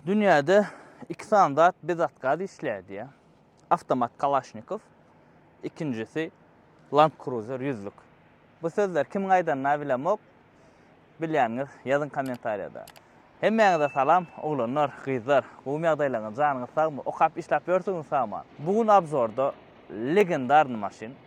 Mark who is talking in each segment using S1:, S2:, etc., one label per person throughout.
S1: Dünýäde iki sany zat bezatgaz işleýär diýýär. Awtomat Kalaşnikow, ikinjisi Land Cruiser ýüzlük. Bu sözler kimiň aýdanyny bilemok. Bilýäniňiz ýazyň kommentariýada. Hemmäňize salam oglanlar, gyzlar. Gowumy ýagdaýlaryňyz, janyňyz sagmy, okap işläp ýörsüňiz sagman. Bu gün obzorda legendarny maşyn.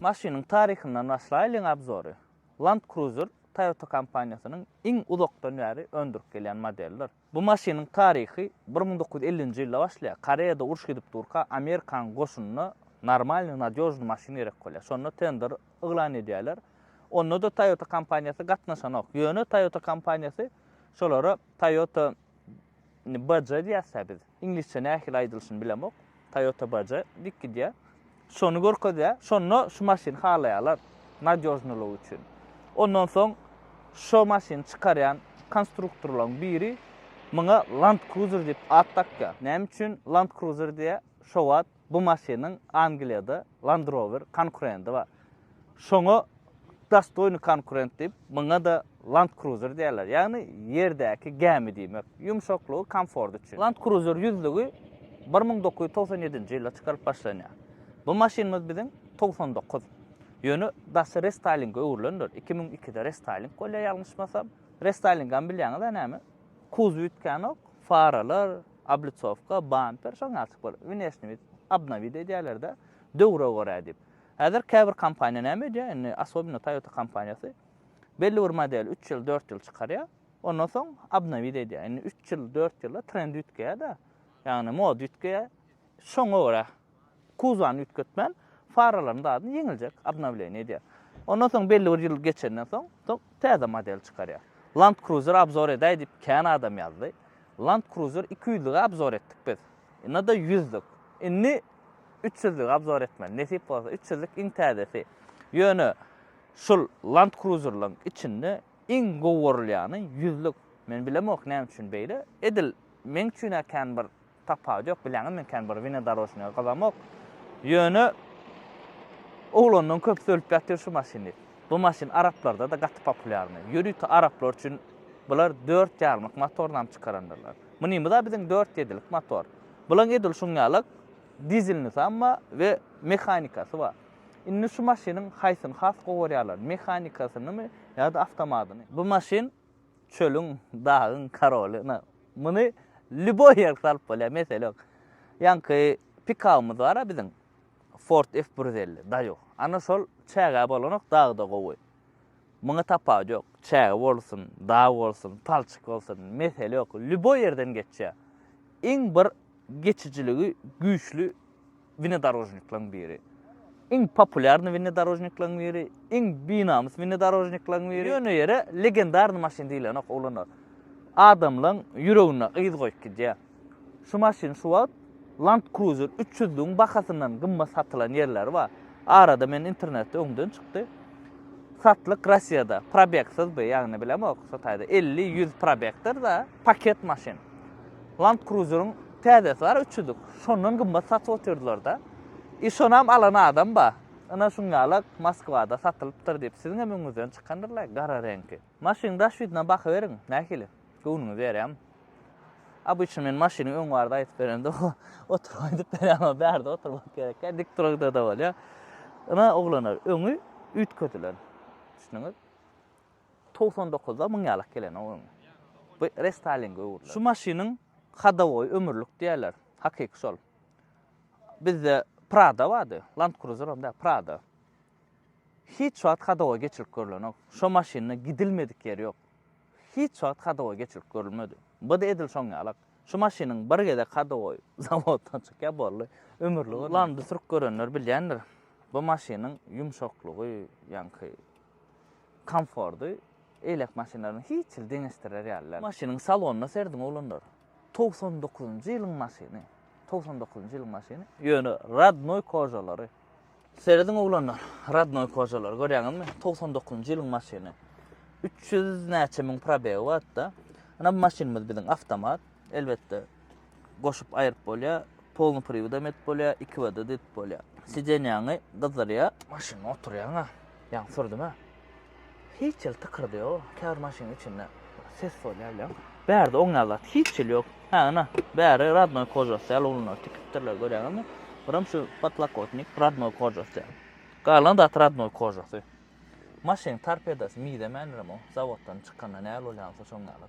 S1: Maşynyň taryhyndan başlaýlyň obzory. Land Cruiser Toyota kompaniýasynyň iň uzakdan bäri öndürip gelýän modelidir. Bu maşynyň taryhy bir müň dokuz ýüz ellinji ýylda başlaýar. Koreýada uruş gidip durka Amerikanyň goşunyna normalnyý nadýožnyý maşyn gerek bolýar. Şonda tender yglan edýärler. Onda-da Toyota kompaniýasy gatnaşanok. Ýöne Toyota kompaniýasy şolara Toyota Indi baja diýäs-ä biz. Iňlisçe nähili aýdylyşyny bilemok. Toyota baja diýip gidýär. Şony görkezýär. Şonda şu maşyny halaýarlar nadýožnylygy üçin. Ondan soň şo maşyny çykarýan konstruktorlaryň biri muňa Land Cruiser diýip at dakýar. Näme üçin Land Cruiser diýýär? Şo wagt bu maşynyň Angliýada Land Rover konkurendi bar. Şoňa dostoýnyý konkurent diýip, muňa-da Land Cruiser diýerler. Ýagny ýerdäki gämi diýmek. Ýumşaklygy, komforty üçin. Land Cruiser ýüzlügi bir müň dokuz ýüz togsan ýedinji ýylda çykarylyp başlanýar. Bu maşynymyz biziň togsan dokuz. Ýöne daşy restaýlinge öwrülendir. Iki müň ikide restaýling bolýar ýalňyşmasam. Restaýlingam bilýäňiz-ä näme. Kuzow üýtgänok. Faralar, Oblitsowka, bamper, şoň ýaly çykyp bolar. Wneşniý vid, obnowid edýärler-de, döwre görä diýip. Häzir käbir kompaniýa näme edýär, indi asobino Toyota kompaniýasy belli bir modeli üç ýyl, dört ýyl çykarýar, ondan soň obnowid edýär. Indi üç ýyl, dört ýylda trendi üýtgeýär-de, ýagny moda üýtgeýär, şoňa görä. Kuzany üýtgetmän, faralaryň zadyny ýeňiljek obnowleniýa edýär. Ondan soň belli bir ýyl geçenden soň, soň täze model çykarýar. Land Cruiser obzor edäý diýip kän adam ýazdy. Land Cruiser iki ýüzlügi obzor etdik biz. Ynada ýüzlük. Indi üç ýüzlügi obzor etmeli. Nesip bolsa üç ýüzlük iň täzesi. Ýöne şul Land Cruiserlaryň içinde iň gowurylýany ýüzlük. Men bilemok näme üçin beýle. Edil meň üçin-ä kän bir Tapawudy ýok, bileňizmi, kän bir winodorožnyýa gyzamok. Ýöne oglandan köp söylüp ýatyr şu maşyny. Bu maşyn araplarda-da gaty populýarny. Ýörite araplar üçin bular dört ýarymlyk motornam çykarandyrlar. Munymyz-a biziň dört ýedilik motor. Bulaň edil şuň ýalak dizelnisam bar we mehanikasy bar. Indi şu maşynyň haýsyny has gowy görýärler, mehanikasynymy ýa-da awtomatyny? Bu maşyn Çölüň, dagyň karoly. Ynha, muny lýuboý ýerki salyp bolýar, mesele ýok. Ýaňky pikabymyz bar-a biziň. Ford F-bir ýüz elli, Daýo. Ana şol çäge bolanok, dagy-da gowy. Muňa tapawut ýok. Çäge bolsun, dag bolsun, palçyk bolsun, mesele ýok. Lýuboý ýerden geçýär. Iň bir geçijiligi güýçli Wnedorožniklaň biri. Iň populýarny wnedorožniklaň biri, iň binamys wnedorožniklaň biri. Ýöne ýere legendarny maşyn diýilenok oglanlar. Adamlaň ýüregine yz goýup gidýär. Şu maşyn şu wagt Land Cruiser üç ýüzligiň bahasyndan gymmat satylan ýerleri bar. Arada men internetde öňden çykdy. Satlyk Rossiýada, probegsyzby, ýagny bilemok, şo taýda elli, ýüz probegdir-da. Paket maşyn. Land Cruiser-iň täzesi bar, üç ýüzlük. Şondan gymmat satyp otyrdylar-da. I şonam alan adam bar. Ine şuňňala Moskwada satylypdyr diýip, siziň hem öňüňizden çykandyrlar, gara reňki. Maşynyň daş ýüzüne bakyberiň, nähili? Göwnüňiz berýärmi? Obyçny men maşynyň öň barda aýdyp berende, o oturyp aýdyp berýär, o bärde oturmak gerekýär, dik duragda-da bolýar. Ine, oglanlar, öňi üýtgedilen. Düşdüňiz? Togsan dokuzda müň ýalak gelen o öňe. Bu restaýlinge öwrüler. Şu maşynyň hadowoýy ömürlik diýerler. Hakyky şol. Bizde Prada bardy. Land Cruiser hem däl, Prada. Hiç wagt hadowoý geçirilip görlenok. Şo maşynda gidilmedik ýeri ýok. Hiç wagt hadowoý geçirilip görülmedi. Bu-da edil şoň ýalak. Şu maşynyň bir gezek hadowoý zawoddan çykýar, boldy. Ömürlik. Landy sürüp görenler bilýändir. Bu maşynyň ýumşaklygy, ýaňky Komforty eýläk maşynlaryň hiç ýyl deňeşdirer ýaly däl. Maşynyň salonyna serediň oglanlar. Togsan dokuzynjy ýylyň maşyny. Togsan dokuzynjy ýylyň maşyny. Ýöne rodnoý kožalary. Serediň oglanlar. Rodnoý kožalary görýäňizmi? Togsan dokuzynjy ýylyň maşyny. Üç ýüz näçe müň probegi batda. Ynha bu maşynymyz biziň awtomat. Elbetde, goşup aýryp bolýar. Polny priwidem edip bolýar, iki w da edip bolýar. Sidenýaňy gyzdyrýar. Maşynda oturýaň-a, ýaňy sürdüm-ä. Hiç hili tykyrdy ýok. Käbir maşynyň içinde ses bolýar bilen. Bärde oňýan zat hiç hili ýok. Hä, ynha, bäri rodnoý kožasy ýaly ulyny tikipdirler, görýäňizmi? Birem şu potlakotnik rodnoý kožasy ýaly. Galan zat rodnoý kožasy. Maşynyň torpedosy mizemändirem o, zawoddan çykanda nähili bolýansoň şoň ýaly.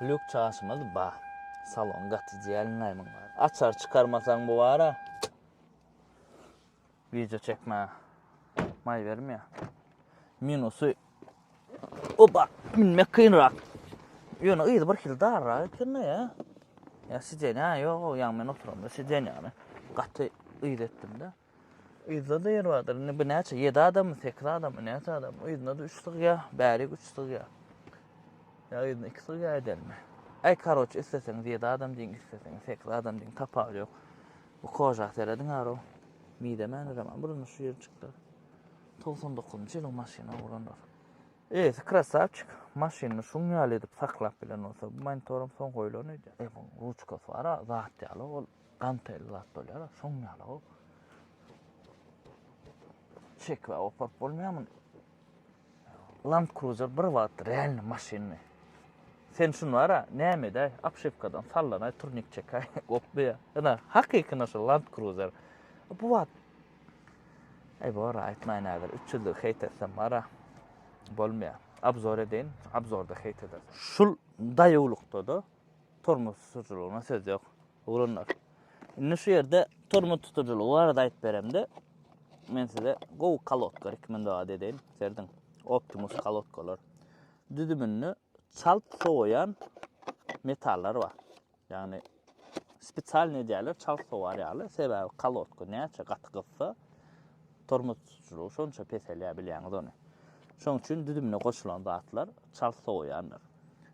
S1: Lýuk çaşymyz ba. Salon gaty jelinlaý muň bar. Açar çykarmasaň bu bara. Video çekme. Maý bermýä. Minusy. Oba, minmek kynrak. Ýöne yzy bir hil darra ekende ýa. Ýa sidenýa ýok, ýa men oturamda sidenýany. Gaty yz etdim-de. Yzda-da ýer bardyr. Indi bu näçe? Ýedi adammy, sekiz adammy, näçe adam? Yzynda-da üç sygýa, bärik üç sygýa. Ýa yzynda iki sygýa edenmi? Äý, karoç, isleseňiz ýedi adam diýiň, isleseňiz sekiz adam diýiň, tapawudy ýok. Bu koža serediň ara-ow. Mizemändirem, a burny şu ýeri çyklar. Togsan dokuzynjy ýylyň maşyny oglanlar. Eýesi krasawçik, maşynyny şuň ýaly edip saklap bilen bolsa, bu monitoram soň goýlan öýdýän. E, munuň ruçkasy bar-a, zat ýaly ol. Dantel zat bolýar-a, şoň ýaly-ow. Çekibä goparyp bolmaýar muny. Land Cruiser bir wagt realny maşyndy. Sen şuny bar-a, näme edäý, obşewkadan sallanaý, turnik çekäý, gopmaýar. Ýa-da hakykyna şu Land Cruiser. Bu wagt Eý bor, aýtmaýyn häzir, üç ýüzlügi heýt etsem bar-a, bolmaýar. Obzor edeýin, obzorda heýt edersiň. Şul daýawlykda-da Tormoz tutujylygyna söz ýok, oglanlar. Indi şu ýerde tormoz tutujylygy barada aýdyp beremde, men size gowy kolodka rekomendowat edeýin. Serdiň, Optimus kolodkalar. Düzüminde çalt sowaýan metallar bar. Ýagny spesialny edýärler çalt sowar ýaly, sebäbi kolodka näçe gaty gyzsa, Tormoz tutujylygy şonça peselýär bilýäňiz ony. Şoň üçin düzümine goşulan zatlar çalt sowaýandyr.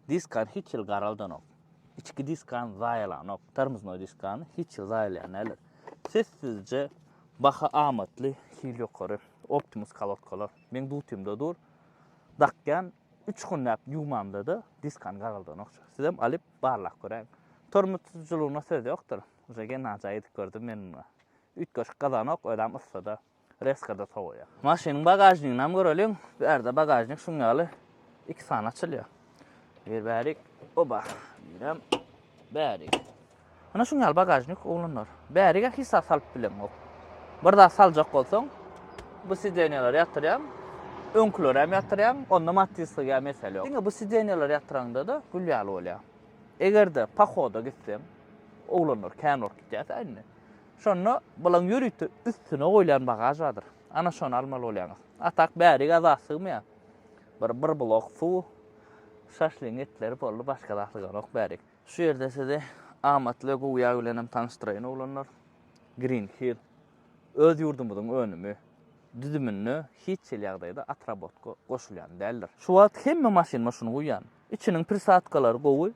S1: Diskan hiç ýyl garaldanok. Içki diskan zaýalanok. Tormoznoý diskan hiç ýyl zaýalaýan däldir. Sessizje baha amatly hil ýokary Optimus kolodkalar. Meň dutymda dur. Dakýan üç günläp ýuwmamda-da diskan garaldanok. Sizem alyp barlap göräýiň. Tormoz tutujylygyna söz ýokdur. Uje gen najaý edip gördüm men muny. Üýtgeşik gazanok, özem yssada, rezko-da sowaýar. Maşynyň bagažniginem göreliň. Bärde bagažnik şuň ýaly iki sany açylýar. Bir bärik, oba, birem bärik. Ine şuň ýaly bagažnik oglanlar. Bärige hiç zat salyp bileňok. Bir zat saljak bolsaň, bu sidenýalara ýatyrýaň, öňküleri hem ýatyrýaň, onda matislige hem mesele ýok. Diňe bu sidenýalara ýatyraňda-da gül ýaly bolýar. Eger-de pohoda gitseň, oglanlar kän bolup gitýärkä indi. Şonda bulaň ýörite üstüne goýlan bagaž bardyr. Ana şony almaly bolýaňyz. A tak bärige zat sygmaýar. Bir bir blok suw, şaşlyň etleri boldy, başga zat syganok bärik. Şu ýerde sizi amatly we gowy ýag bilen hem tanyşdyraýyn oglanlar. Green Hill öz ýurdumyzyň önümi. Düzüminde hiç hili ýagdaýda atrabotka goşulýan däldir. Şu wagt hemme maşynyma şuny guýýan. Içiniň prisatkalary gowy.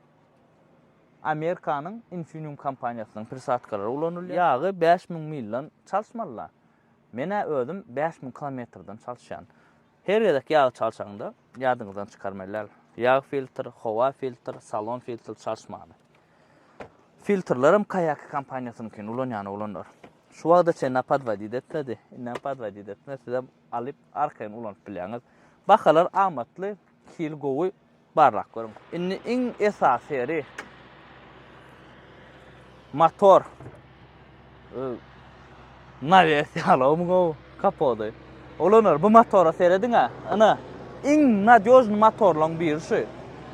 S1: Amerikanyň Infineum kompaniýasynyň prisatkalary ulanylýar. Ýagy bäş müň milden çalşmaly-la. Men-ä özüm bäş müň kilometrden çalşýan. Her gezek ýagy çalşaňda, ýadyňyzdan çykarmaly däl, ýag filtr, howa filtr, salon filtr çalşmaly. Filtrlerem Kayaki kompaniýasynyňkyny ulanýan oglanlar. Şu wagta çenli-ä podwodit etmedi. Indem podwodit etmez, sizem alyp, arkaýyn ulanyp bilýäňiz. Bahalar amatly, Hili gowy barlap görüň. Indi iň esasy ýeri motor nawes ýalawmy gowy kapody ulanýar bu motora serediň a ina iň nadýožny motorlaryň biri şu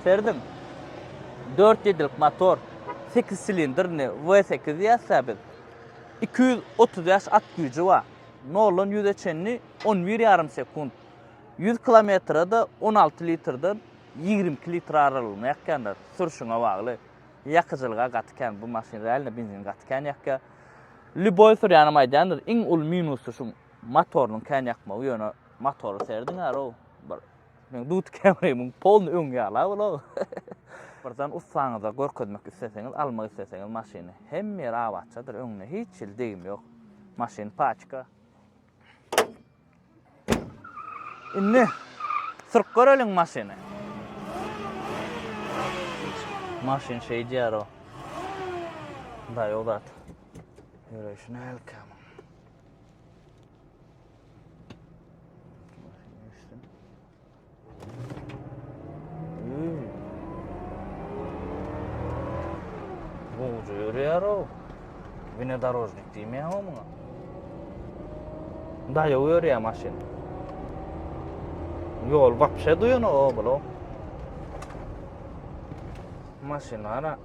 S1: serediň dört ýedilik motor sekiz silindrni w sekiz diýýäsä biz iki ýüz otuz bäş at güýji bar noldan ýüze çenli on bir ýarym sekunt Ýüz kilometre-de on alty litrden ýigrimi iki litr aralygynda ýakýandyr. Sürşüňe bagly. Ýakyjylyga gaty kän. Bu maşyn realno benzin gaty kän ýakýar. Lýuboý sürýänem aýdýandyr, iň uly minusy şu motorynyň kän ýakmagy, ýöne motory serediň aro, bir meň Duty Camry-myň polny öňi ýala ol-a. Birden ussaňyza görkezmek isleseňiz, almak isleseňiz maşyny, hemme ýeri abatçadyr, öňüne hiç hili degim ýok. Maşyn paçka. Indi sürüp göreliň maşyny. Maşyn şeýdýär o. Daýy o zat. Ýöreýşine elkäm. Gowja ýörýär o. Bine dorožnik diýmeýär o muňa. Daýa ýörýär maşyn. Ýol wapşe duýan o bolo. Maşyn ara.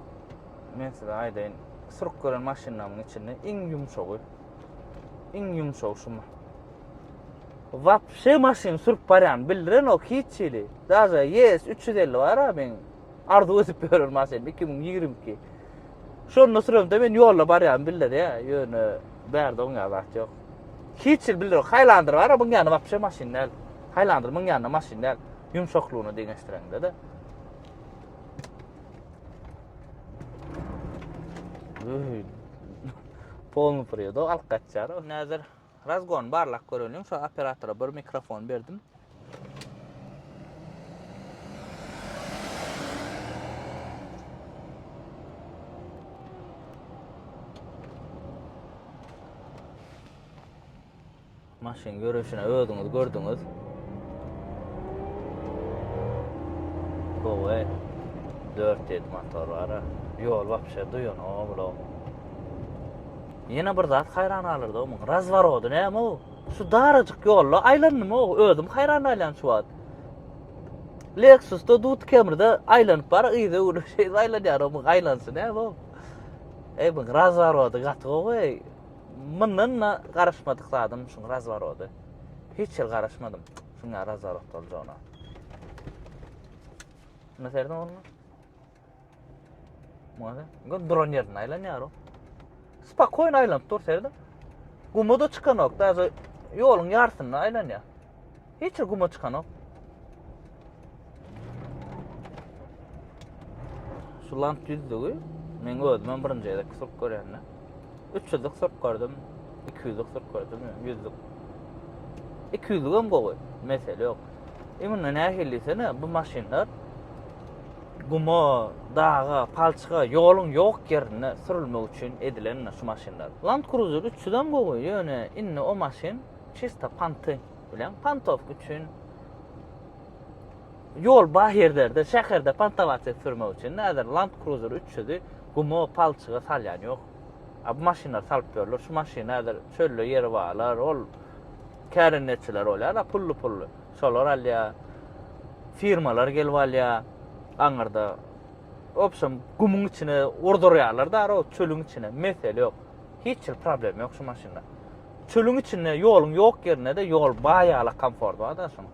S1: Men size aýdaýyn. Sürüp gören maşynlaryň içinde iň ýumşagy. Iň ýumşagy şu. Wapşe maşyn sürüp barýan bildirenok hiç hili. Daže ES üç ýüz elli bar-a meň arzuw edip ýören maşynym iki müň ýigrimi iki. Şonda süremde men ýolda barýan bildirýä, ýöne bärde oň ýaly zat ýok. Hiç hili bildirok. Highlander bar-a muň ýany wapşe maşyn däl. Highlander muň ýanyna maşyn däl. Ýumşaklygyna deňeşdireňde-de. Öý. Polny pyrýa-da alyp gaçýar-a. Näzir. Razgon barlak göreliň şo operatora bir mikrofon berdim. Maşyn görüşüne özüňiz gördüňiz. Gowy. 4 motor var. Yol vapşe duyan o Ýene bir zat haýran galyrdy o muň razworody näme o? Şu darajyk ýolda aýlandymy o? Özüm haýran galýan şu wagt. Lexusda dut kemrde aýlanyp bar yza öwrülip şeýdip aýlanýar o muň aýlansy näme o? Eý muň razworody gaty gowy eý. Mundan da garaşmadyk zadym şuň razworody. Hiç ýyl garaşmadym şuň razworod boljagyna. Näserden bolma? Mana, bu duran ýerinde aýlanýar o. Spakoýn aýlanyp dur serde. Guma da çykanok, daýza ýoluň ýarysynda aýlanýar. Hiç guma çykanok. Şu lamp düzdügi, men özüm birinji gezek sürüp görýän. Üç ýüzlük sürt gördüm, iki ýüzlük sürt gördüm, ýüzlük. Iki ýüzlük hem gowy, mesele ýok. Emin nähili diýsene, bu maşynlar guma, daga, palçyga, ýoluň ýok ýerinde sürülmek üçin edilen şu maşynlar. Land Cruiser 300 hem gowy, ýöne indi o maşyn çista panty bilen pantowka üçin Ýol baý ýerlerde, şäherde pantawaçek sürmek üçin häzir Land Cruiser üç ýüzi guma, palçyga salýan ýok. A bu maşynlar salyp ýörler. Şu maşyn häzir çölde ýeri barlar, ol kärendeçiler bolýar-a, pully-pully. Şolar alýar. Firmalar gelip alýar aňyrda. Wobşem, gumuň içine urdurýarlar da o çölüň içine. Mesele ýok. Hiç hil problem ýok şu maşynda. Çölüň içinde ýoluň ýok ýerinde-de ýol baý ýala komfort bar-da şunuň.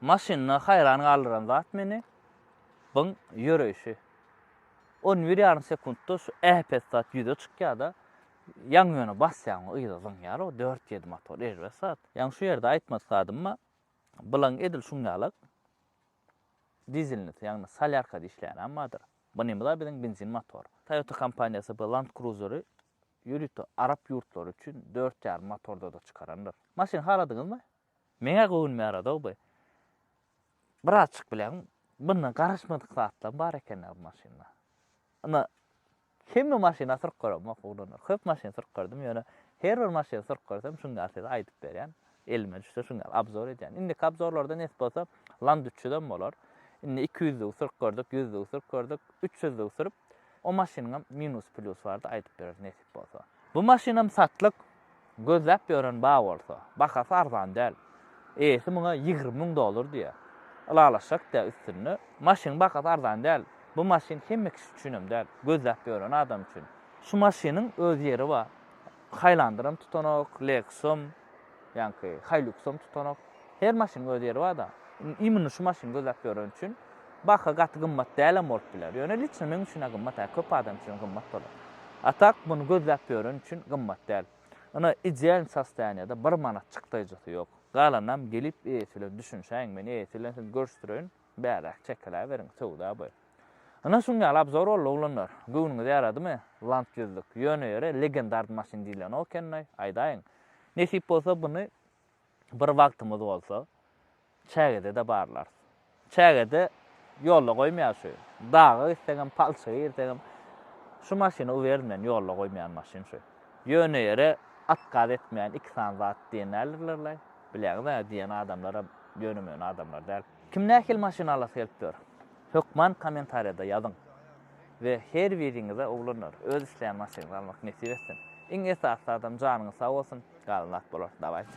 S1: Maşynda haýran galdyran zat meni byň ýöreýşi. On bir ýarym sekuntda şu äpet zat ýüze çykýar-da, ýaňy ýöne basýaňmy yza zyňýar o dört ýedi motor erbet zat. Ýaňy şu ýerde aýtmadyk zadym-a, bulaň edil şuň ýalak dizelnisi ýagny solýarkada işleýänem bardyr. Bunymyz-a biziň benzin motor. Toyota kompaniýasy bu Land Cruiser-i ýörite arap ýurtlary üçin dört ýarym motorda-da çykarandyr. Maşyn haladyňyzmy? Meňä göwünime ýarady-ow bu. Birazjyk bileň, bundan garaşmadyk zatlam bar eken-ä bu maşynda. Ynha, hemme maşyna syryp göremok, oglanlar. Köp maşyn syryp gördüm, ýöne her bir maşyny syryp görsem, şuny ýaly size aýdyp berýän. Elime düşse, şuny ýaly obzor edýän. Indiki obzorlarda nesip bolsa, Land üç ýüzem bolar. Indi iki ýüzlügi syryp gördük, ýüzlügi syryp gördük, üç ýüzlügi syryp, O maşynyňam minus plýus bardy aýdyp bereris nesip bolsa. Bu maşynam satlyk, gözläp ýören bar bolsa. Bahasy arzan däl. Eýesi muňa ýigrimi müň dollar diýýär. Ylalaşjak däl üstünde. Maşynyň bahasy arzan däl. Bu maşyn hemme kişi üçinem däl. Gözläp ýören adam üçin. Şu maşynyň öz ýeri bar. Haýlandyram tutanok, Lexusam. Ýaňky Hiluxam tutanok. Her maşynyň öz ýeri bar-da. Imini şu maşyny gözläp ýöreni üçin baha gaty gymmat däl hem bolup biler. Ýöne liçno meň üçin-ä gymmat, hä, köp adam üçin gymmat bolar. A tak, muny gözläp ýöreni üçin gymmat däl. Ynha, idealny sostoýaniýada bir manat çykdaýjysy ýok. Galanynam gelip eýesi bilen düşünişäýiň, men eýesi bilen sizi görüşdireýin. Bäräk çekiläberiň, söwda bu. Ynha şuň ýaly abzor boldy oglanlar. Göwnüňize ýaradymy? Land ýüzlük. Ýöne ýöre legendard maşyn diýlen o ekenlaý. Aýdaýyň. Nesip bolsa buny bir wagtymyz bolsa çägede-de barlarys. Çägede ýolda goýmaýar şu. Daga gitsegem, palçyga girsegem şu maşyny uberin men ýolda goýmaýan maşyn şu. Ýöne ýere atgaz etmeýän iki sany zat diýen nälerlerlaý? Bilýäňiz-ä diýen adamlaram ýöne-möne adamlar däl. Kim nähili maşyn alasy gelip ýör? Hökman kommentariýada ýazyň we her biriňize oglanlar öz isleýän maşynyňyzy almak nesip etsin. Iň esasy zadam janyňyz sag bolsun, galan zat bolar. Dawaýçy.